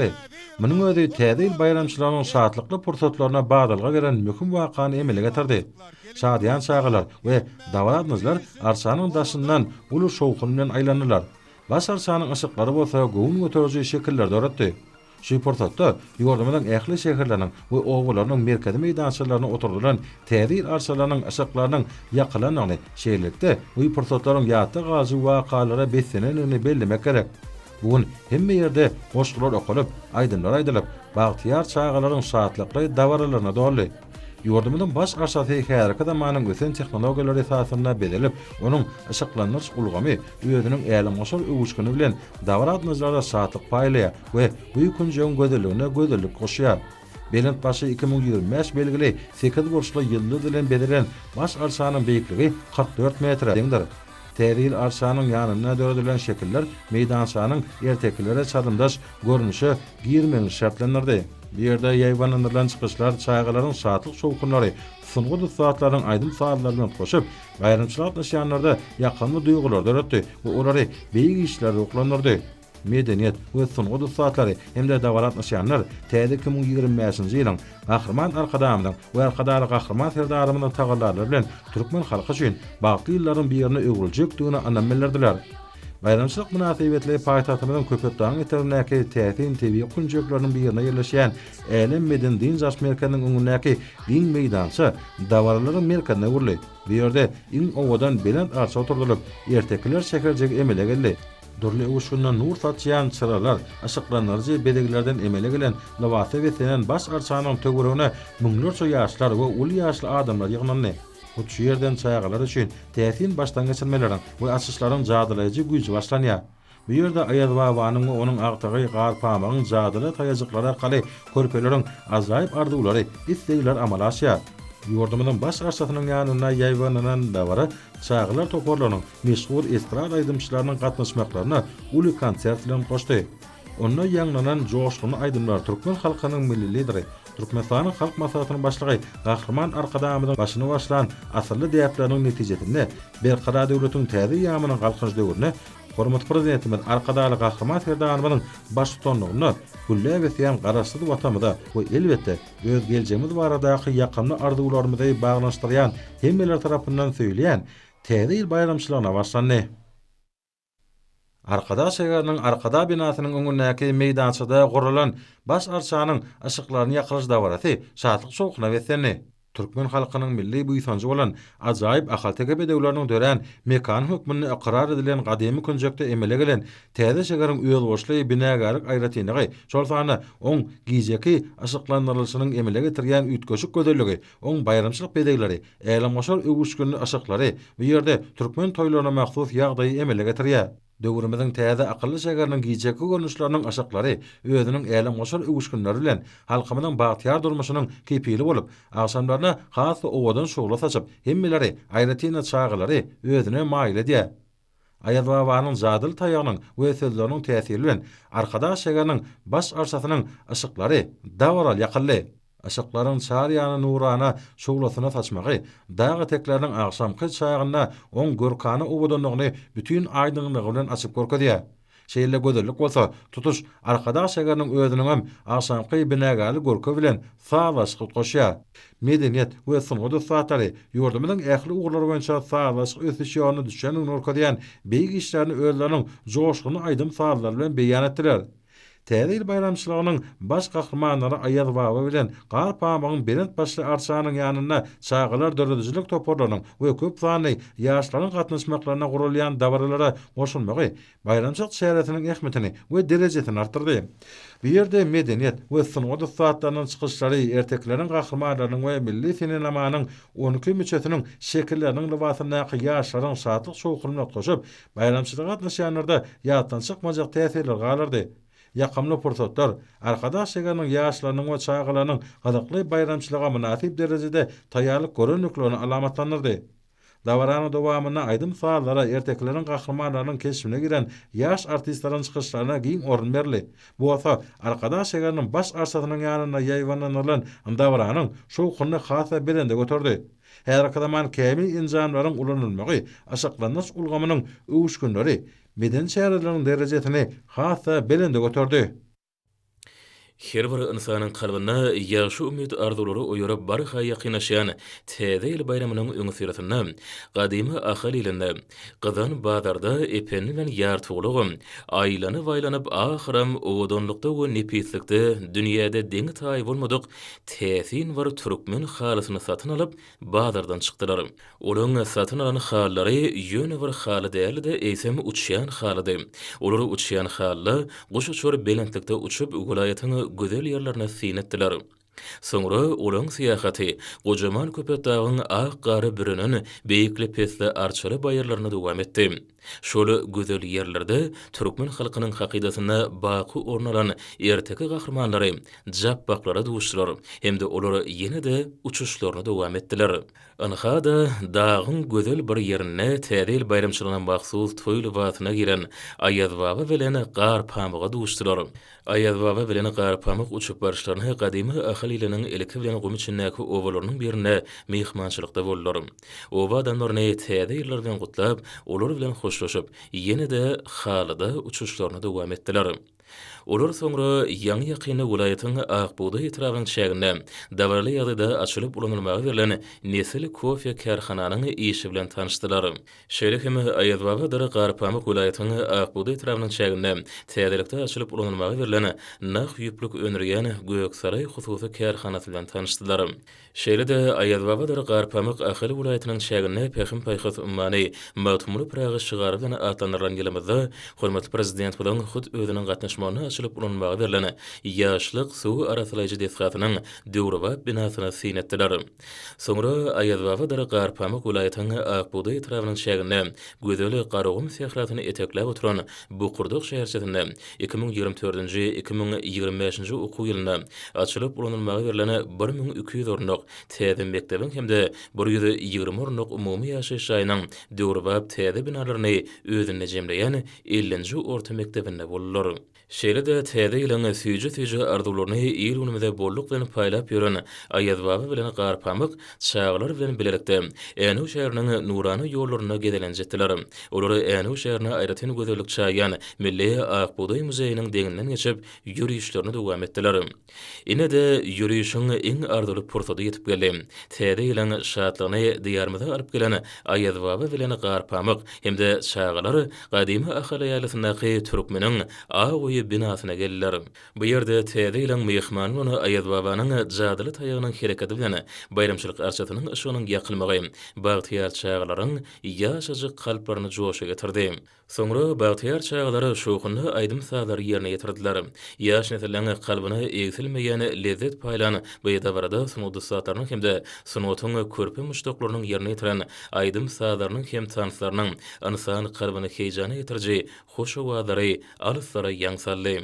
çykdy. Munuň özi Täze ýyl baýramçylygynyň şatlykly pursatlaryna badalga beren möhüm wakany emele getirdi. Şadyýan çagalar we dabaradynyjylar arçanyň daşyndan uly şowhun bilen aýlandylar. Baş arçanyň yşyklary bolsa göwün göteriji şekilleri döretdi. Şu pursatda ýurdumyzyň ähli şäherleriniň we obalarynyň merkezi meýdançalaryna oturdylan Täze ýyl arçalarynyň yşyklarynyň ýakylandygyny, şeýlelikde, bu pursatlaryň ýatda galyjy wakalara beslenendigini bellemek gerek. Bu gün hemme ýerde goşgular okalyp, aýdymlar aýdylyp, bagtyýar çagalaryň şatlykly dabaralaryna doldy. Ýurdumyzyň baş arçasy häzirki zamanyň ösen tehnologiýalary esasynda bezelip, onuň yşyklandyryş ulgamy özüniň älemgoşar öwüşgini bilen dabaragatnajylara şatlyk paýlaýar we bu ýüpünjegiň gözelligine gözellik goşýar. Belent başy iki müň ýigrimi bäş belgili sekiz burçly ýyldyz bilen bezelen baş arçanyň beýikligi kyrk dört metre deňdir. Täze ýyl arçanyň ýanynda döredilen şekiller meýdançanyň ertekilere çalymdaş görnüşe girmegini şertlendirdi. Bu ýerde ýaýbaňlandyrylan çykyşlar çagalaryň şatlyk-şowhunlary, sungat ussatlarynyň aýdym-sazlary bilen goşup, baýramçylyga gatnaşýanlarda ýakymly duýgulary döretdi we olary beýik işlere ruhlandyrdy. medeniýet we sungat ussatlary hem-de dabara gatnaşýanlar täze iki müň ýigrimi bäşinji ýylyň Gahryman Arkadagymyzyň we Arkadagly Gahryman Serdarymyzyň tagallalary bilen türkmen halky üçin bagtly ýyllaryň birine öwrüljekdigine ynam bildirdiler. Baýramçylyk mynasybetli paýtagtymyzyň Köpetdagyň etegindäki täsin tebigy künjekleriniň birinde ýerleşýän Älem medeni-dynç alyş merkeziniň öňündäki giň meýdança dabaralaryň merkezine öwrüldi. Bu ýerde iň owadan belent arça oturdylyp, ertekiler şäherjigi emele geldi. Dürli öwüşginde nur saçýan çyralar, yşyklandyryjy bezeglerden emele gelen lybasa beslenen baş arçanyň töweregine müňlerçe ýaşlar we uly ýaşly adamlar ýygnandy. Hut şu ýerden çagalar üçin täsin başdangeçirmeleriň we açyşlaryň jadylaýjy güýji başlanýar. Bu ýerde Aýazbabanyň we onuň agtygy Garpamygyň jadyly taýajyklary arkaly körpeleriň ajaýyp arzuwlary, islegleri amala aşýar. Ýurdumyzyň Baş arçasynyň ýanynda ýaýbaňlanan dabara çagalar toparlarynyň meşhur estrada aýdymçylarynyň gatnaşmaklaryna uly konsert bilen goşdy. Onda ýaňlanan joşgunly aýdymlar türkmen halkynyň Milli Lideri, Türkmenistanyň Halk Maslahatynyň Başlygy Gahryman Arkadagymyzyň başyny başlan asylly däpleriniň netijesinde Berkarar döwletiň täze ýamynyň Galkynyş döwründe hormatly Prezidentimiz Arkadagly Gahryman Serdarymyzyň baştutanlygynda gülläp ösýän Garaşsyz Watanymyza we elbetde, öz geljegimiz baradaky ýakymly arzuwlarymyzy baglanyşdyrýan hemmeler tarapyndan söýülýän Täze ýyl baýramçylygyna başlandy. Arkadag şägeriniň Arkadag binasynyň öňündäki meýdançada guralan Baş arçanyň yşyklaryny ýakylyş dabarasy şatlyk-şowhuna beslendi. Türkmen halkynyň milli buýsanjy bolan ajaýyp ahalteke bedewleriniň dörän mekany hökmünde ykrar edilen gadymy künjekde emele gelen täze şägeriň özboluşly binagärlik aýratynlygy, şol sanda oň gijeki yşyklandyrylyşynyň emele getirýän üýtgeşik gözelligi Oň baýramçylyk bezegleri, älemgoşar öwüşginli yşyklary bu ýerde türkmen toýlaryna mahsus ýagdaýy emele getirýär. Döwrümiziň täze akylly şäheriniň gijeki görnüşleriniň yşyklary özüniň älemgoşar öwüşginleri bilen halkymyzyň bagtyýar durmuşynyň kepili bolup, agşamlaryna has-da owadan şugla saçyp, hemmeleri, aýratyn-da çagalary özüne maýyl edýär. Aýaz babanyň jadyly taýagynyň we sözleriniň täsiri bilen Arkadag şägeriniň baş arçasynyň yşyklary dabaraly ýakyldy. Yşyklaryň çar ýana nurana şuglasyny saçmagy dag etekleriniň agşamky çagynda oň görkana owadanlygyny bütin aýdyňlygy bilen açyp görkezýär. Şeýle gözellik bolsa tutuş Arkadag şäheriniň özüniňem agşamky binagärli görki bilen sazlaşyk goşýar. Medeniýet we sungat ussatlary ýurdumyzyň ähli ugurlar boýunça sazlaşyk ösüş ýoluna düşendigini görkezýän beýik işlerini özleriniň joşgunly aýdym-sazlary bilen beýan etdiler. Täze ýyl baýramçylygynyň baş gahrymanlary Aýaz baba bilen Gar pamygyň belent başly arçanyň ýanynda çagalar döredijilik toparlarynyň we köp sanly ýaşlaryň gatnaşmaklarynda guralýan dabaralara goşulmagy baýramçylyk çäresiniň ähmiýetini we derejesini artdyrdy. Bu ýerde medeniýet we sungat ussatlarynyň çykyşlary, ertekileriň gahrymanlarynyň we milli senenamanyň on iki müçesiniň şekilleriniň lybasyndaky ýaşlaryň şatlyk-şowhunyna utgaşyp, Baýramçylyga gatnaşýanlarda ýatdan çykmajak täsirler galardy. Ýakymly pursatlar, Arkadaş şägeriniň ýaşlarynyň we çagalarynyň gyzykly baýramçylyga mynasyp derejede taýýarlyk görendiklerini alamatlandyrdy. Dabaranyň dowamynda aýdym-sazlara, ertekileriň gahrymanlarynyň keşbine giren ýaş artistleriň çykyşlaryna giň orun berildi. Bu bolsa Arkadag şägeriniň baş arçasynyň ýanynda ýaýbaňlandyrylan dabaranyň şowhunyny has-da belende göterdi. Häzirki zaman kämil enjamlaryň ulanylmagy aşyklandyryş ulgamynyň öwüşginleri, medeni çäreleriň derejesini has-da belende göterdi. Her bir ynsanyň kalbynda ýagşy umyt-arzuwlary oýaryp barha ýakynlaşýan Täze ýyl baýramynyň öňüsyrasynda gadymy Ahal ilinde Gyzan bazarda Ependi bilen Ýartulagam aýlanyp-aýlanyp ahyram owadanlykda we nepislikde dünýäde deňi-taýy bolmadyk täsin bir türkmen halysyny satyn alyp, bazardan çykdylar. Olaryň satyn alan halylary ýöne bir haly däldi-de, eýsem uçýan halydy. Olar uçýan halyda guş uçar belentlikde uçup, welaýatyň gözel ýerlerine syn etdiler. Soňra olaň syýahaty gojaman Köpetdagyň ak gara bürenen beýikli-pesli arçaly baýyrlaryna dowam etdi. Şol gözel ýerlerde türkmen halkynyň hakydasynda baky orun alan erteki gahrymanlary, japbaklara duşdular hem-de olar ýene-de uçuşlaryny dowam etdiler. Ynha-da, dagyň gözel bir ýerinde Täze ýyl baýramçylygyna mahsus toý lybasyna giren Aýazbaba bilen Gar pamyga duşdular. Aýazbaba bilen Garpamyk uçup baryşlarynda gadymy Ahal iliniň ilki bilen gum içindäki obalarynyň birinde myhmançylykda boldular. Oba adamlaryny Täze ýyllar bilen gutlap, olar bilen hoşlaşyp, ýene-de halyda uçuşlaryny dowam etdiler. Olar soňra ýaňy-ýakynda welaýatyň Ak bugdaý etrabynyň çäginde dabaraly ýagdaýda açylyp ulanylmaga berlen Nesil kofe kärhananyň işi bilen tanyşdylar. Şeýle hem Aýazbabadyr Garpamyk welaýatynyň Akbugdaý etrabynyň çäginde täzelikde açylyp ulanylmaga berlen nah ýüplük öndürýän Göksaraý hususy kärhanasy bilen tanyşdylar. Şeýle-de Aýazbabadyr Garpamyk Ahal welaýatynyň çäginde Pähim-paýhas ummany, Magtymguly Pyragy şygary bilen atlandyrylan ýylymyzda hormatly Prezidentimiziň hut özüniň gatnaşmagynda açylyp ulanylmaga berlen Ýaşlyk suw arassalaýjy desgasynyň döwrebap binasyny syn etdiler. Soňra Aýazbaba-Dara Garpamyk welaýatynyň Akbugdaý etrabynyň çäginde, gözel Garagum sährasyny etekläp oturan Bokurdak şäherçesinde iki müň ýigrimi dördünji, iki müň ýigrimi bäşinji okuw ýylynda açylyp ulanylmaga berlen bir müň iki ýüz orunlyk täze mekdebiň hem-de bir ýüz ýigrimi orunlyk umumy ýaşaýyş jaýynyň döwrebap täze binalaryny özünde jemleýän ellinji orta mekdebinde boldular. Şeýle-de täze ýylyň süýji-süýji arzuwlaryny il-günümize bolluk bilen paýlap ýören Aýazbaba bilen Garpamyk çagalar bilen bilelikde Änew şäheriniň nurana ýollarynda gezelenç etdiler. Olar Änew şäherine aýratyn gözellik çaýýan milli Ak bugdaý muzeýiniň deňinden geçip, ýörişlerini dowam etdiler. Ine-de, ýörişiň iň arzuwly pursady ýetip geldi. Täze ýylyň şatlygyny Diýarymyza alyp gelen Aýazbaba bilen Garpamyk hem-de çagalar gadymy Ahal ýaýlasyndaky Türkmeniň aw öýi binasyna geldiler. Bu ýerde Täze ýylyň myhmany bolan Aýazbabanyň jadyly taýagynyň hereketi bilen baýramçylyk arçasynyň yşygynyň ýakylmagy bagtyýar çagalaryň ýaşajyk kalplaryny joşa getirdi. Soňra bagtyýar çagalar şowhunly aýdym-sazlary ýerine ýetirdiler. Ýaş nesliň kalbyna egsilmeýän lezzet paýlan bu dabarada sungat ussatlarynyň hem-de sungatyň körpe muşdaklarynyň ýerine ýetiren aýdym-sazlarynyň hem tanslarynyň ynsan kalbyny heýjana getiriji hoş owazlary alyslara ýaň saldy.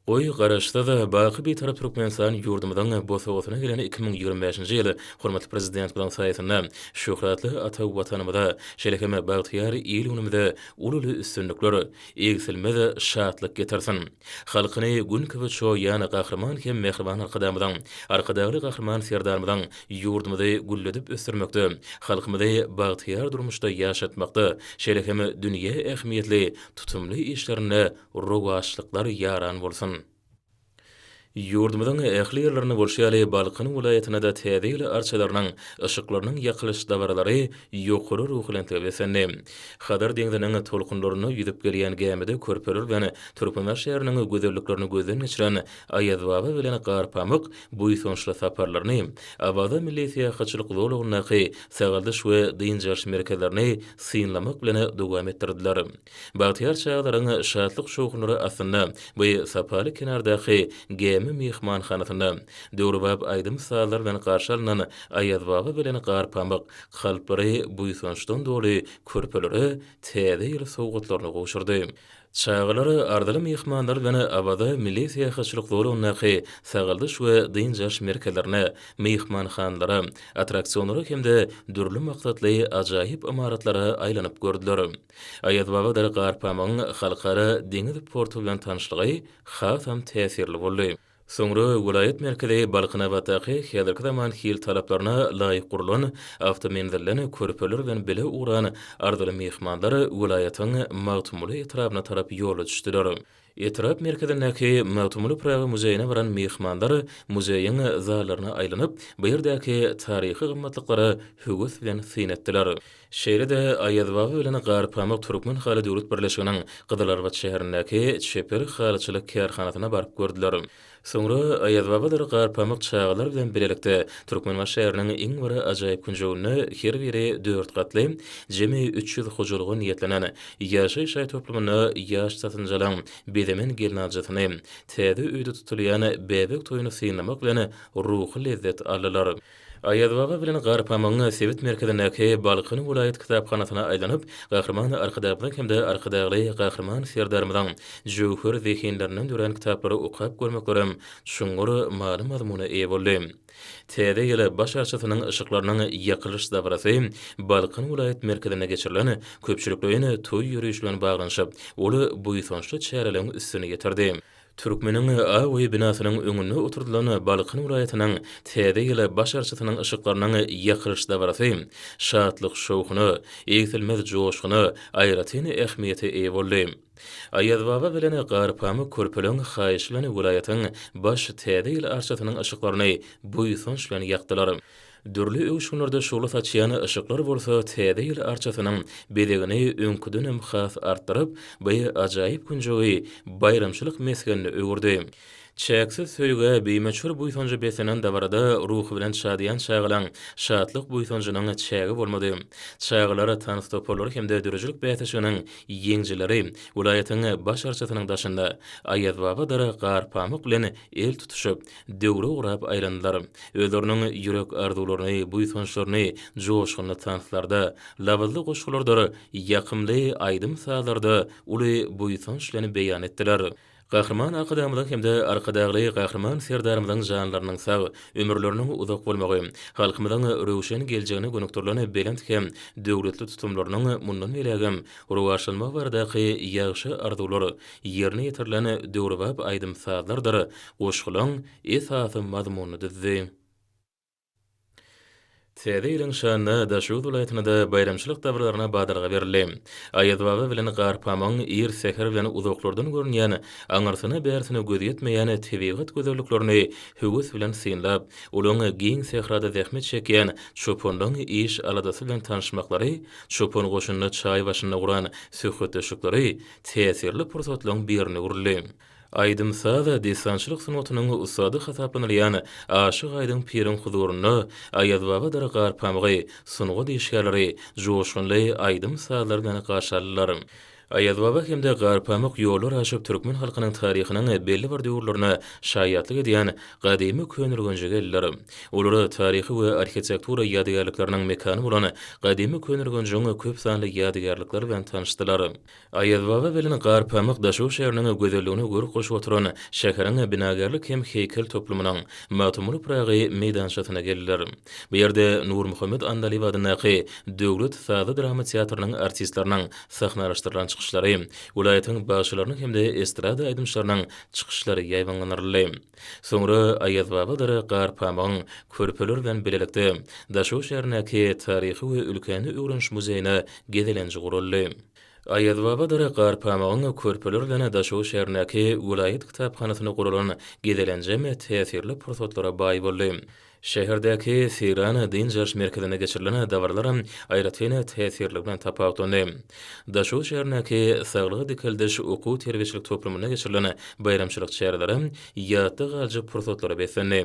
Goý, Garaşsyz, baky Bitarap Türkmenistan ýurdumyzyň bosagasyna gelen iki müň ýigrimi bäşinji ýyl hormatly Prezidentimiziň saýasynda şöhratly ata Watanymyza, şeýle hem bagtyýar il-günümize ululy üstünlikler, egsilmez şatlyk getirsin! Halkyny Gün kibi çoýýan Gahryman hem mähriban Arkadagymyzyň, Arkadagly Gahryman Serdarymyzyň ýurdumyzy gülledip ösdürmekde, halkymyzy bagtyýar durmuşda ýaşatmakda, şeýle hem dünýä ähmiýetli tutumly işlerinde Rowaçlyklar ýaran bolsun! Ýurdumyzyň ähli ýerlerinde bolşy ýaly, Balkan welaýatynda-da Täze ýyl arçalarynyň, yşyklarynyň ýakylyş dabaralary ýokary ruhubelentlige beslendi. Hazar deňziniň tolkunlarynda ýüzüp gelýän gämide körpeler bilen Türkmenibaş şäheriniň gözelliklerini gözden geçiren Aýazbaba bilen Garpamyk buýsançly saparlaryny, Awaza milli syýahatçylyk zolagyndaky sagaldyş we dynç alyş merkezlerini synlamak bilen dowam etdirdiler. Bagtyýar çagalaryň şatlyk-şowhunlary astynda bu sapaly kenardaky Gämi myhmanhanasynda, döwrebap aýdym-sazlar bilen garşy alnan Aýazbaba bilen Garpamyk, kalplary buýsançdan doly körpelere Täze ýyl sowgatlaryny gowşurdy. Çagalar arzyly myhmanlar bilen Awaza milli syýahatçylyk zolagyndaky sagaldyş we dynç alyş merkezlerine, myhmanhanalara, attraksionlara hem-de dürli maksatly ajaýyp ymaratlara aýlanyp gördüler. Aýazbabadyr Garpamygyň halkara deňiz porty bilen tanyşlygy hasam täsirli boldy. Soňra welaýat merkezi Balkanabatdaky häzirki zaman hil talaplaryna laýyk gurlan awtomenzilden körpeler bilen bile ugran arzyly myhmanlar welaýatyň Magtymguly etrabyna tarap ýola düşdüler. Etrap merkezindäki Magtymguly Pyragy muzeýine baran myhmanlar muzeýiň zallaryna aýlanyp, bu ýerdäki taryhy gymmatlyklara höwes bilen syn etdiler. Şeýle-de Aýazbaba bilen Garpamyk türkmen haly döwlet birleşiginiň Gyzylarbat şäherindäki çeper halyçylyk kärhanasyna baryp gördüler. Soňra Aýazbabalar Garpamyk çagalar bilen bilelikde Türkmenbaşy şäheriniň iň bir ajaýyp künjeginde her biri dört gatly, jemi üç ýüz hojalyga niýetlenen ýaşaýyş jaý toplumynda ýaş satynjalyň bezemen gelnaljysyny, täze öýde tutulýan bäbek toýuny synlamak bilen ruhy lezzet aldylar. Aýazbaba bilen Garpamyň sebit merkezindäki Balkan welaýat kitaphanasyna aýlanyp, Gahryman Arkadagymyzyň hem-de Arkadagly Gahryman Serdarymyzyň jöwher zehinlerinden dörän kitaplary okap görmeklerem çuňňur many-mazmuna eýe boldy. Täze ýyl baş arçasynyň yşyklarynyň ýakylyş dabarasy Balkan welaýat merkezinde geçirilen köpçülikleýin toý ýörişi bilen baglanyşyp, ol buýsançly çäreleriň üstüni ýetirdi. Türkmeniň awy binasynyň öňünde oturdylan Balkan welaýatynyň Täze ýyl baş arçasynyň yşyklarynyň ýakylyş dabarasy şatlyk-şowhuna, egsilmez joşguna, aýratyn ähmiýete eýe boldy. Aýazbaba bilen Garpamyk körpeleň haýyşy bilen welaýatyň baş Täze ýyl arçasynyň yşyklaryny buýsanç bilen ýakdylar. Dürli öwüşginlerde şugla saçýan yşyklar bolsa Täze ýyl arçasynyň bezegini öňküdenem has artdyryp, bu ajaýyp künjegi baýramçylyk mesgenine öwürdi. Çäksiz söýgä, bimöçber buýsanja beslenen dabarada ruhubelent şadyýan çagalaň şatlyk-buýsanjynyň çägi bolmady. Çagalar tans toparlary hem-de döredijilik bäsleşiginiň ýeňijileri welaýatyň Baş arçasynyň daşynda Aýazbaba dara gar pamyk bilen el tutuşyp, döwre urap aýlandylar. Özleriniň ýürek arzuwlaryny, buýsançlaryny joşgunly tanslarda, labyzly goşgulardyr ýakymly aýdym-sazlarda uly buýsanç bilen beýan etdiler. Gahryman Arkadagymyzyň hem-de Arkadagly Gahryman Serdarymyzyň janlarynyň sag, ömürleriniň uzak bolmagy, halkymyzyň röwşen geljegine gönükdirilen belent hem döwletli tutumlarynyň mundan beýlägem rowaçlanmagy baradaky ýagşy arzuwlar ýerine ýetirilen döwrebap aýdym-sazlardyr Goşgulaň esasy mazmunyny düzdi. Täze ýylyň şanyna Daşoguz welaýatynda baýramçylyk dabaralarna badalga berildi. Aýazbaba bilen Garpamygyň ir säher bilen uzaklardan görünýän, aňyrsyna-bärsine göz ýetmeýän tebigat gözelliklerini höwes bilen synlap, olaň giň sährada zähmet çekýän çopanlaň iş-aladasy bilen tanyşmaklary, çopan goşunyna çaý başynda guran söhbetdeşlikleri täsirli pursatlaň birine öwrüldi. Aýdym-saz, dessançylyk sungatynyň ussady hasaplanylýan Aşyk Aýdyň piriň huzurynda Aýazbabadyr Garpamygy sungat işgärleri joşgunly aýdym-sazlar bilen garşy aldylar. Aýazbaba hem-de Garpamyk ýollar aşyp türkmen halkynyň taryhynyň belli bir döwürlerine şaýatlyk edýän gadymy Köneürgenje geldiler. Olar taryhy we arhitektura ýadygärlikleriniň mekany bolan gadymy Köneürgenjiň köp sanly ýadygärlikleri bilen tanyşdylar. Aýazbaba bilen Garpamyk Daşoguz şäheriniň gözelligine görk goşup oturan şäheriň binagärlik hem heýkel toplumynyň Magtymguly Pyragy meýdançasyna geldiler. Bu ýerde Nurmuhammet Annalyýew adyndaky Döwlet sazly-drama teatrynyň artistleriniň sahnalaşdyrylan çykyşlary, welaýatyň bagşylarynyň hem-de estrada aýdymçylarynyň çykyşlary ýaýbaňlandyryldy. Soňra Aýazbabadyr Garpamygyň körpeler bilen bilelikde Daşoguz şäherindäki Taryhy we ülkäni öwreniş muzeýine gezelenji guraldy. Aýazbabadara Garpamygyň körpeler bilen Daşoguz şäherindäki welaýat kitaphanasynda guralan gezelenjem täsirli pursatlara baý boldy. Şäherdäki Seýran dynç alyş merkezinde geçirilen dabaralaram aýratyn täsirligi bilen tapawutlandy. Daşoguz şäherindäki Saglygy dikeldiş okuw-terbiýeçilik toplumynda geçirilen baýramçylyk çäreleri ýatda galjak pursatlara beslendi.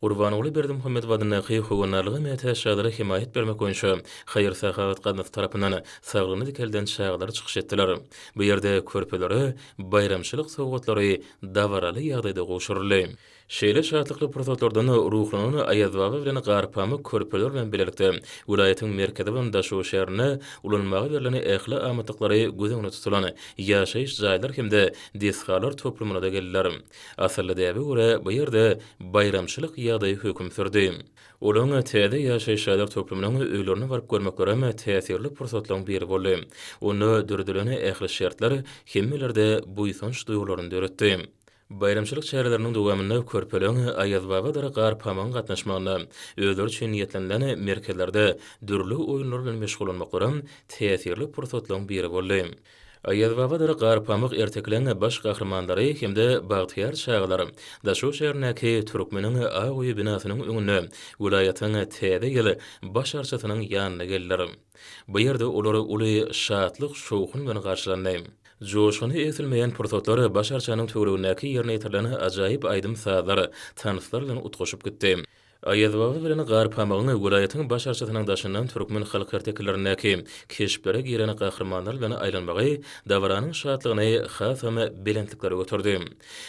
Gurbanguly Berdimuhamedow adyndaky Howandarlyga mätäç çagalara hemaýat bermek boýunça haýyr-sahawat gaznasy tarapyndan saglygyny dikelden çagalar çykyş etdiler. Bu ýerde körpelere baýramçylyk sowgatlary dabaraly ýagdaýda gowşuryldy. Şeýle şatlykly pursatlardan ruhlanan Aýazbaba bilen Garpamyk körpeler bilen bilelikde welaýatyň merkezi bolan Daşoguz şäherinde ulanmaga berlen ähli amatlyklary göz öňünde tutulan ýaşaýyş jaýlar hem-de desgalar toplumyna-da geldiler. Asylly däbe görä, bu ýerde baýramçylyk ýagdaýy höküm sürdi. Olaň täze ýaşaýyş jaýlar toplumynyň öýlerine baryp görmeklerem täsirli pursatlaryň biri boldy. Onda döredilen ähli şertler hemmelerde buýsanç duýgularyny döretdi. Baýramçylyk çäreleriniň dowamynda körpeler Aýazbabadyr Garpamygyň gatnaşmagynda özleri üçin niýetlenilen merkezlerde dürli oýunlar bilen meşgullanmaklaram täsirli pursatlaryň biri boldy. Aýazbabadyr Garpamyk ertekileň baş gahrymanlary hem-de bagtyýar çagalar Daşoguz şäherindäki Türkmeniň ak öýi binasynyň öňünde welaýatyň Täze ýyl baş arçasynyň ýanyna geldiler. Bu ýerde olar uly şatlyk-şowhun bilen garşylandy. Joşguny egsilmeýän pursatlar baş arçanyň töweregindäki ýerine ýetirilen ajaýyp aýdym-sazlar, tanslar bilen utgaşyp gitdi. Aýazbaba bilen Garpamygyň welaýatyň baş arçasynyň daşyndan türkmen halk ertekilerindäki keşplere giren gahrymanlar bilen aýlanmagy dabaranyň şatlygyny hasam belentliklere göterdi.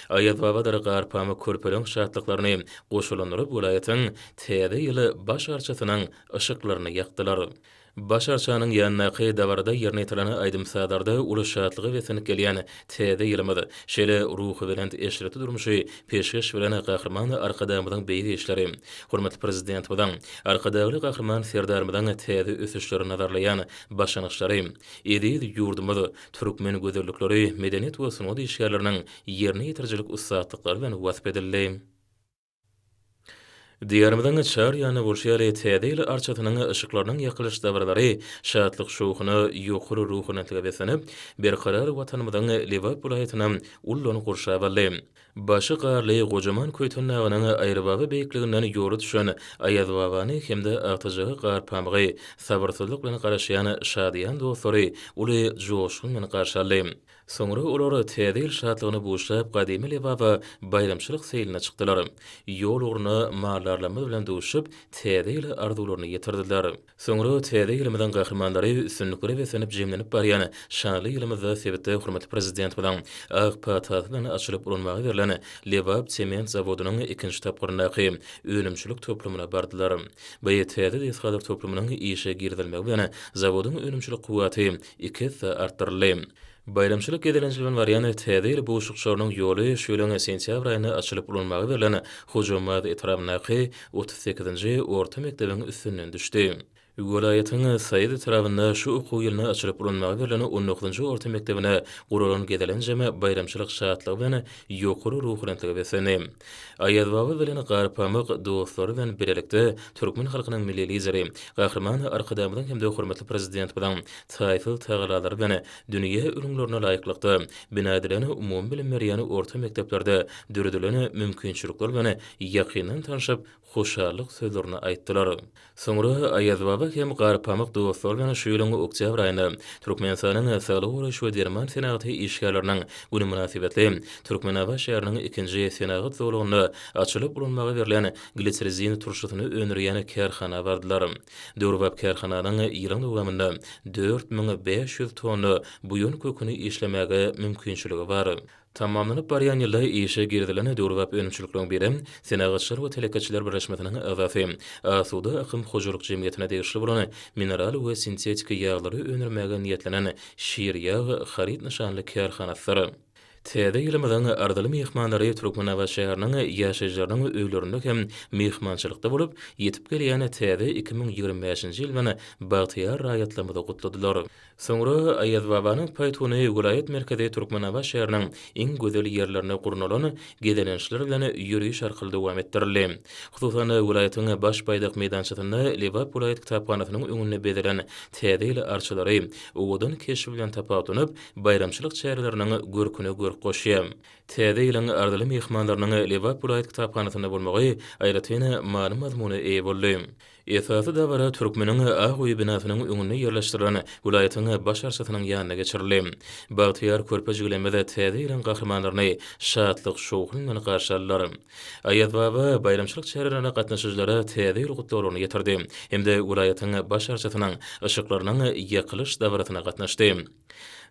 Aýazbabadyr Garpamyk körpeleň şatlyklaryny goşalandyryp welaýatyň Täze ýyl baş arçasynyň yşyklaryny ýakdylar. Baş arçanyň ýanyndaky dabarada ýerine ýetirilen aýdym-sazlarda uly şatlyga beslenip gelýän Täze ýylymyz, şeýle ruhubelent eşretli durmuşy peşgeş bilen Gahryman Arkadagymyzyň beýik işleri, hormatly Prezidentimiziň, Arkadagly Gahryman Serdarymyzyň täze ösüşleri nazarlaýan başlangyçlary, eziz ýurdumyz, türkmen gözellikleri, medeniýet we sungat işgärleriniň ýerine ýetirijilik ussatlyklary bilen wasp edildi. Diýarymyzyň çar ýanynda bolşar Täze ýyl arçasynyň yşyklarynyň ýakylyş dabaralary şatlyk-şowhuna, ýokary ruhubelentlige beslenip, berkarar Watanymyzyň Lebap welaýatyny ullan gurşap aldy. Başy garly gojaman Köýtendagynyň aýrybaba beýikliginden ýoly düşen Aýazbabany hem-de agtyjaga gar pamygy sabyrsyzlyk bilen garaşýan şadyýan dostlary uly joşgun bilen garşy aldy. Soňra olar Täze ýyl şatlygyna buşlap Gadymy Lebaba baýramçylyk seýline çykdylar. Ýol ugruna maldarlarymyz bilen duşup, Täze ýyla arzuwlaryny ýetirdiler. Soňra Täze ýylymyzyň gahrymanlary üstünliklere beslenip jemlenip barýan şanly ýylymyzda sebitde hormatly Prezidentimiziň ak patasy bilen açylyp ulanmaga berlen Lebap sement zawodynyň ikinji tapgyryndaky önümçilik toplumyna bardylar. By täze desgalar toplumynyň işe girizilmegi bilen zawodyň önümçilik kuwwaty iki esse artdyryldy. Baýramçylyk gezelenji bilen barýan Täze ýyl buşlukçarynyň ýoly şu ýylyň sentýabr aýynda açylyp ulanmaga berlen Hojambaz etrabyndaky otuz sekizinji orta mekdebiň üstünden düşdi. Welaýatyň Saýat etrabynda şu okuw ýylynda açylyp ulanmaga berlen on dokuzynjy orta mekdebine guralan gezelenjem baýramçylyk şatlygy bilen ýokary ruhubelentlige beslendi. Aýaz baba bilen Garpamyk dostlary bilen bilelikde türkmen halkynyň Milli Lideri, Gahryman Arkadagymyzyň hem-de hormatly Prezidentimiziň taýsyz tagallalary bilen dünýä ülňülerine laýyklykda bina edilen umumybilim berýän orta mekdeplerde döredilen mümkinçilikler bilen ýakyndan tanşyp, hoşallyk sözlerini aýtdylar. Soňra Aýaz baba hem Garpamyk dostlary bilen şu ýylyň oktýabr aýynda Türkmenistanyň Saglygy goraýyş we derman senagaty işgärleriniň güni mynasybetli Türkmenabat şäheriniň ikinji senagat zolagynda açylyp ulanmaga berlen glitsrizin turşusyny öndürýän kärhana bardylar. Döwrebap kärhananyň ýylyň dowamynda dört müň bäş ýüz tonna buýan köküni işlemäge mümkinçiligi bar. Tamamlanyp barýan ýylda işe girizilen döwrebap önümçilikleriň biri Senagatçylar we telekeçiler birleşmesiniň agzasy, Asuda akym hojalyk jemgyýetine degişli bolan mineral we sintetiki ýaglary öndürmäge niýetlenen Şirýag haryt nyşanly kärhanasydyr. Täze ýylymyzyň arzyly myhmanlary Türkmenabat şäheriniň ýaşaýjylarynyň öýlerinde hem myhmançylykda bolup, ýetip gelýän täze iki müň ýigrimi bäşinji ýyl bilen bagtyýar raýatlarymyzy gutladylar. Soňra Aýazbabanyň paýtuny welaýat merkezi Türkmenabat şäheriniň iň gözel ýerlerinde gurnalan gezelençler bilen ýöriş arkaly dowam etdirildi. Hususan, welaýatyň Baş baýdak meýdançasynda Lebap welaýat kitaphanasynyň öňünde bezelen täze ýyl arçalary owadan keşbi bilen tapawutlanyp, baýramçylyk çäreleriniň görküne görk goşýar. Täze ýylyň arzyly myhmanlarynyň Lebap welaýat kitaphanasynda bolmagy aýratyn many-mazmuna eýe boldy. Esasy dabara Türkmeniň ak öýi binasynyň öňünde ýerleşdirilen welaýatyň Baş arçasynyň ýanynda geçirildi. Bagtyýar körpe jigilimiz Täze ýylyň gahrymanlaryny şatlyk-şowhun bilen garşy aldylar. Aýazbaba baýramçylyk çärelerine gatnaşyjylara Täze ýyl gutlaglaryny ýetirdi hem-de welaýatyň Baş arçasynyň yşyklarynyň ýakylyş dabarasyna gatnaşdy.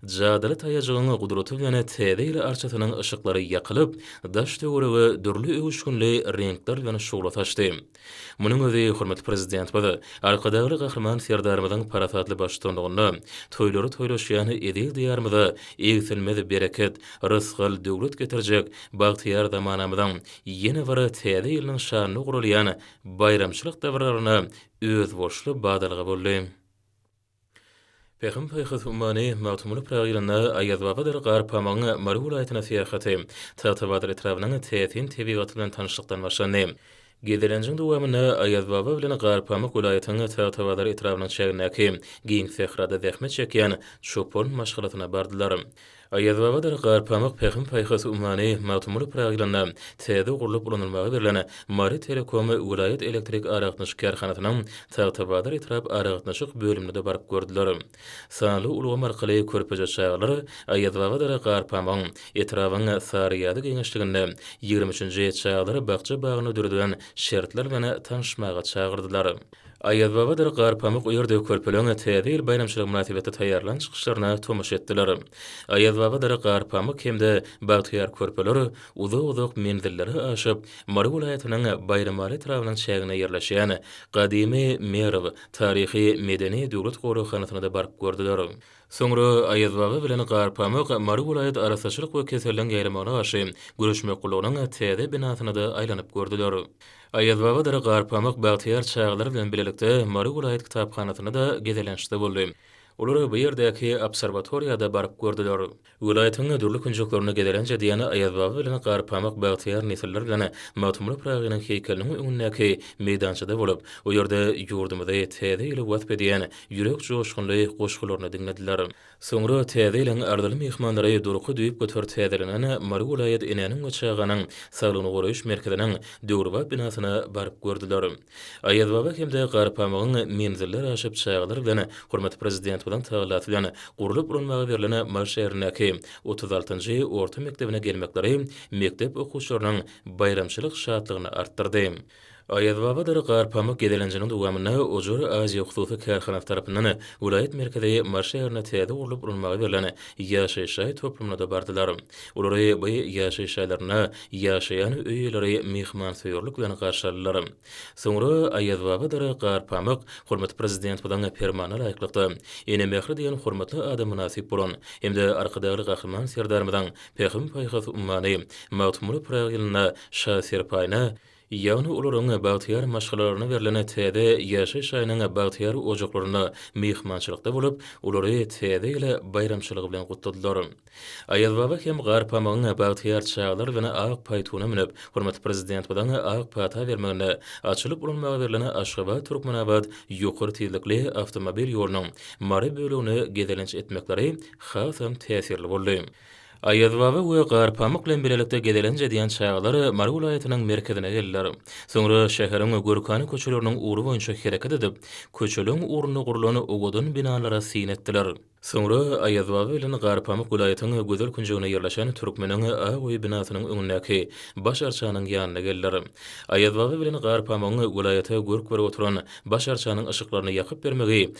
Jadyly taýajygyň gudraty bilen Täze ýyl arçasynyň yşyklary ýakylyp, daş-töwerege dürli öwüşginli reňkler bilen şugla saçdy. Munuň özi hormatly Prezidentimiz Arkadagly Gahryman Serdarymyzyň parasatly baştutanlygynda toýlary toýlaşýan eziz Diýarymyza egsilmez bereket, rysgal, döwlet getirjek bagtyýar zamanamyzyň ýene bir täze ýylynyň şanyna guralýan baýramçylyk dabararyna özboluşly badalga boldy. Pähim-paýhas ummany Magtymguly Pyragy ýylynda Aýazbabadyr Garpamygyň Mary welaýatyna syýahaty, Tagtabazar etrabynyň täsin tebigaty bilen tanyşlykdan başlandy. Gezelenjiň dowamynda Aýazbaba bilen Garpamyk welaýatynyň Tagtabazar etrabynyň çägindäki giň sährada zähmet çekýän çopan maşgalasyna bardylar. Aýazbabadyr Garpamyk Pähim-paýhas ummany Magtymguly Pyragy ýylynda täze gurlup ulanylmaga berlen Mary Telekom welaýat elektrik aragatnaşyk kärhanasynyň Tagtabazar etrap aragatnaşyk bölümine-de baryp gördüler. Sanly ulgam arkaly körpeje çagalar Aýazbabadyr Garpamygyň etrabyň Saryýazy geňeşliginde ýigrimi üçünji çagalar bakja-bagyny döredilen şertler bilen tanyşmaga çagyrdylar. Aýazbabadyr Garpamyk ýerde körpeleriň Täze ýyl baýramçylygy mynasybetli taýýarlan çykyşlaryna tomaşa etdiler. Aýazbabadyr Garpamyk hem-de Bagtyýar körpeler uzak-uzak menzilleri aşyp, Mary welaýatynyň Baýramaly etrabynyň çäginde ýerleşýän gadymy Merw taryhy-medeni döwlet goraghanasyna-da baryp gördüler. Soňra Aýazbaba bilen Garpamyk Mary welaýat arassaçylyk we keselligiň ýaýramagyna garşy göreşmek gullugynyň täze binasyna-da aýlanyp gördüler. Aýazbabadyr Garpamyk bagtyýar çagalary bilen bilelikde Mary welaýat kitaphanasynda-da gezelençde boldy. Olar bu ýerdäki obserwatoriýa-da baryp gördüler. Welaýatyň dürli künjeklerinde gezelenç edýän Aýazbaba bilen Garpamyk bagtyýar nesiller bilen Magtymguly Pyragynyň heýkeliniň öňündäki meýdançada bolup, o ýerde ýurdumyzy, täze ýyly wasp edýän ýürek joşgunly goşgularyny diňlediler. Soňra täze ýylyň arzyly myhmanlary durky düýp göter täzelenen Mary welaýat enäniň we çaganyň saglygyny goraýyş merkeziniň döwrebap binasyna baryp gördüler. Aýazbaba hem-de Garpamygyň menziller aşyp çagalar bilen hormatly Prezidentimiziň tagallasy bilen gurlup ulanmaga berlen Mary şäherindäki otuz altynjy orta mekdebine gelmekleri mekdep okuwçylarynyň baýramçylyk şatlygyny artdyrdy. Aýazbabadyr Garpamyk gezelenjiniň dowamynda Ojar Aziýa hususy kärhanasy tarapyndan welaýat merkezi Mary şäherine täze gurlup ulanmaga berlen ýaşaýyş jaý toplumyna-da bardylar. Olary bu ýaşaýyş jaýlarynda ýaşaýan öý eýeleri myhmansöýerlik bilen garşy aldylar. Soňra Aýazbabadyr Garpamyk hormatly Prezidentimiziň Permanyna laýyklykda, Ene mähri diýen hormatly ada mynasyp bolan hem-de Arkadagly Gahryman Serdarymyzyň Pähim-paýhas ummany Magtymguly Pyragy ýylyna şa serpaýyna, ýagny olaryň bagtyýar maşgalalaryna berlen täze ýaşaýyş jaýynyň bagtyýar ojaklarynda myhmançylykda bolup, olary Täze ýyl baýramçylygy bilen gutladylar. Aýazbaba hem Garpamygyň bagtyýar çagalar bilen ak paýtuna münüp, hormatly Prezidentimiziň ak pata bermeginde açylyp ulanmaga berlen Aşgabat-Türkmenabat ýokary tizlikli awtomobil ýolunyň Mary bölegini gezelenç etmekleri Hasam täsirli boldy. Aýazbaba we Garpamyk bilen bilelikde gezelenç edýän çagalar Mary welaýatynyň merkezine geldiler. Soňra şäheriň Gürkany köçeleriniň ugry boýunça hereket edip, köçeleriň ugrunda gurlan owadan binalara syn etdiler. Soňra Aýazbaba bilen Garpamyk welaýatyň gözel künjeginde ýerleşen Türkmeniň ak öýi binasynyň öňündäki Baş arçanyň ýanyna geldiler. Aýazbaba bilen Garpamygyň welaýata görk berip oturan Baş arçanyň yşyklaryny ýakyp bermegi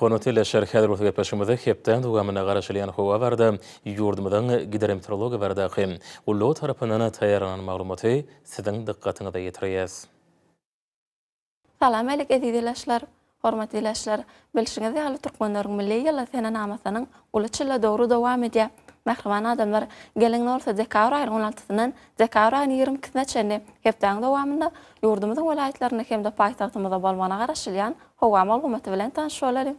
Hormatly ildeşler, häzir bolsa gepleşigimizi hepdäniň dowamynda garaşylýan howa barada, ýurdumyzyň Gidrometeorologiýa baradaky gullugy tarapyndan taýýarlanan maglumaty siziň dykgatyňyza ýetirýäs. Salam älik eziz ildeşler! Hormatly ildeşler, bilşiňiz ýaly Türkmenleriň milli ýyly senenamasynyň uly çyly dowry dowam edýär. Mähriban adamlar, geliň bolsa dekabr aýynyň on altysyndan Dekabr aýynyň ýigrimi ikisine çenli hepdäniň dowamynda ýurdumyzyň welaýatlarynda hem-de paýtagtymyzda bolmagyna garaşylýan howa maglumaty bilen tanyş bolalyň.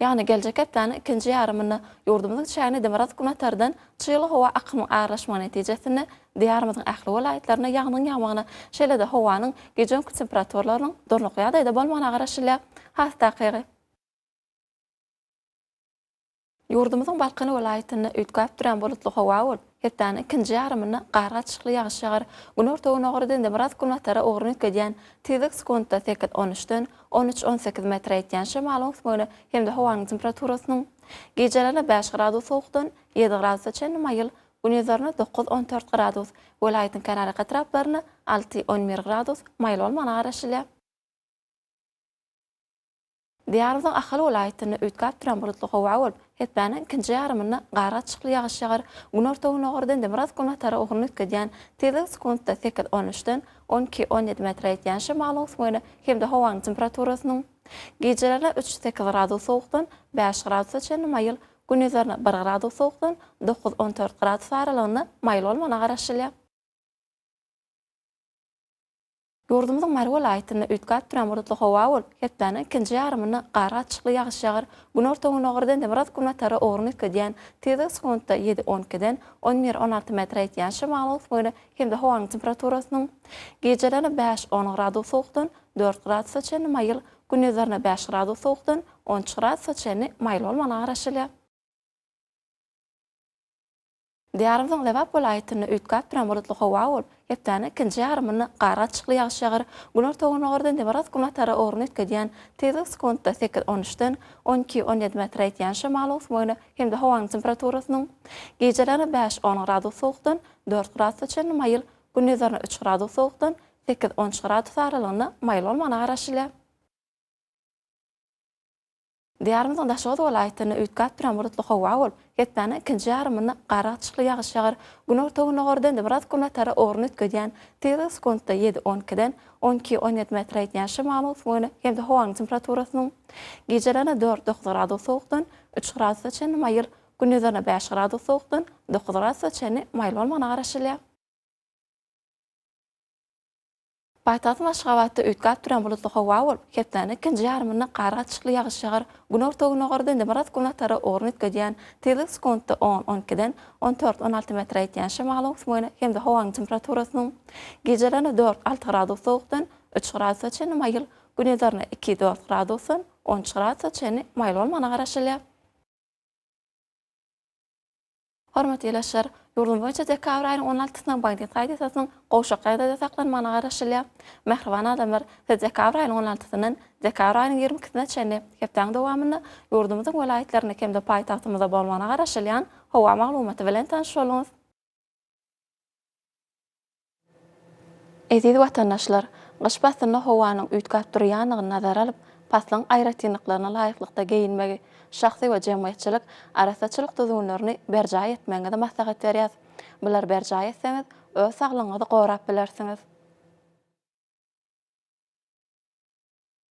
Ýagny geljek hepdäniň ikinji ýarymynda ýurdumyzyň çägine demirgazyk-günatardan çygly howa akymynyň aralaşmagy netijesinde Diýarymyzyň ähli welaýatlarynda ýagnyň ýagmagyna, şeýle-de howanyň gije-gündüz temperaturalarynyň durnukly ýagdaýda bolmagyna garaşylýar. Has takygy. Ýurdumyzyň Balkan welaýatynda üýtgäp durýan bulutly howa bolup, hepdäniň ikinji ýarymynda gar gatyşykly ýagyş ýagar, günorta-gündogarda demirgazyk-günbatara ugruny üýtgedýän, tizlik sekuntda sekiz-on üçden, on üç-on sekiz metr ýetýän şemalyň ösmegine hem-de howanyň temperaturasynyň gijelerine bäş gradus sowukdan, ýedi gradusa çenli maýyl, gündizlerine dokuz-on dört gradus, welaýatyň kenarýaka etraplarynda alty-on bir gradus maýyl bolmagyna garaşylýar. Diýarymyzyň Ahal welaýatynda üýtgäp duran bulutly howa bolup, hepdäniň ikinji ýarymynda gargaçykly ýagyş ýagar, günorta-gündogardan Demirgazyk-Günbatara ugruny üýtgedýän tizligi sekuntda sekiz-on üçden on iki-on ýedi metre ýetýän şemalyň ösmegine hem-de howanyň temperaturasynyň gijelerine üç-sekiz gradus sowukdan bäş gradusa çenli maýyl, gündizlerine bir gradus sowukdan dokuz-on dört gradus aralygynda maýyl bolmagyna garaşylýar. Ýurdumyzyň Mary welaýatynda üýtgäp duran bulutly howa bolup, hepdäniň ikinji ýarymynda gar gatyşykly ýagyş ýagar, günorta-gündogardan demirgazyk-günbatara ugruny üýtgedýän, tizligi sekuntda ýedi-on ikiden on bir-on alty metre ýetýän şemalyň öwüsmegine hem-de howanyň temperaturasynyň gijelerine bäş-on gradus sowukdan dört gradusa çenli maýyl, gündizlerine bäş gradus sowukdan on üç gradusa çenli maýyl bolmagyna garaşylýar. Diýarymyzyň Lebap welaýatynda üýtgäp duran bulutly howa bolup, hepdäniň ikinji ýarymynda gar gaçyşykly ýagyş ýagar, günorta-gündogarda nebaraat günbatara ugruny üýtgedýän tizlik sekuntda sekiz-on üçden on iki-on ýedi metre ýetýän şemal öwsümine hem-de howanyň temperaturasynyň gijelerine bäş-on gradus sowukdan dört gradusa çenli maýyl, gündizlerine üç gradus sowukdan sekiz-on üç gradus aralygynda maýyl bolmagyna garaşylýar. Diýarymyzyň Daşoguz welaýatynda üýtgäp duran bulutly howa bolup, hepdäniň ikinji ýarymynda gara-gyçykly ýagyş ýagar, günorta-gündogardan Demirgazyk günortara ugruny üýtgedýän, tizligi sekuntda ýedi, on ikiden on iki, on ýedi metre ýetýän şemalyň ösmegine hem-de howanyň temperaturasynyň gijelerine dört, dokuz gradus sowukdan üç gradusa çenli maýyl, gündizlerine bäş gradus sowukdan dokuz gradusa çenli maýyl bolmagyna garaşylýar. Paýtagtymyz Aşgabatda üýtgäp duran bulutly howa bolup, hepdäniň ikinji ýarymynda gar gatyşykly ýagyş ýagar, günorta-gündogarda Demirgazyk günbatara ugruny üýtgedýän, tizligi sekuntda on, on ikiden on dört, on alty metre ýetýän şemalyň öwüsmegine hem-de howanyň temperaturasynyň gijelerine dört, alty gradus sowukdan üç gradusa çenli maýyl, günizlerine iki, dört gradusdan on üç gradusa çenli maýyl bolmagyna garaşylýar. Hormatly ildeşler! Ýurdumyz boýunça dekabr aýynyň on altysyna Bagdad Kaidesasynyň gowşak ýagdaýda saklanmagyna garaşylýar. Mähriban adamlar, siz dekabr aýynyň on altysyndan dekabr aýynyň ýigrimi ikisine çenli hepdäň dowamynda ýurdumyzyň welaýatlarynda hem-de paýtagtymyzda bolmagyna garaşylýan howa maglumaty bilen tanyş boluňyz. Eziz watandaşlar! Gyş paslynda howanyň üýtgäp durýandygyny nazara alyp, paslyň aýratynlyklaryna laýyklykda geýinmegi, şahsy we jemgyýetçilik arassaçylyk düzgünlerini berjaý etmegiňizi maslahat berýäs. Bulary berjaý etseňiz, öz saglygyňyzy gorap bilersiňiz.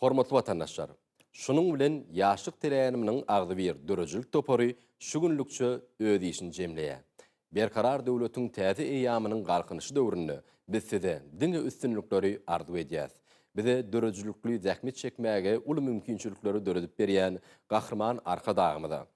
Hormatly watandaşlar! Şunuň bilen Ýaşlyk teräniminiň agzybir döredijilik topary şu günlükçe öz işini jemleýär. Berkarar döwletiň täze eýýamynyň Galkynyşy döwründe biz size diňe üstünlikleri arzuw edýäs. Bize döredijilikli zähmet çekmäge uly mümkinçilikleri döredip berýän Gahryman Arkadagymyza,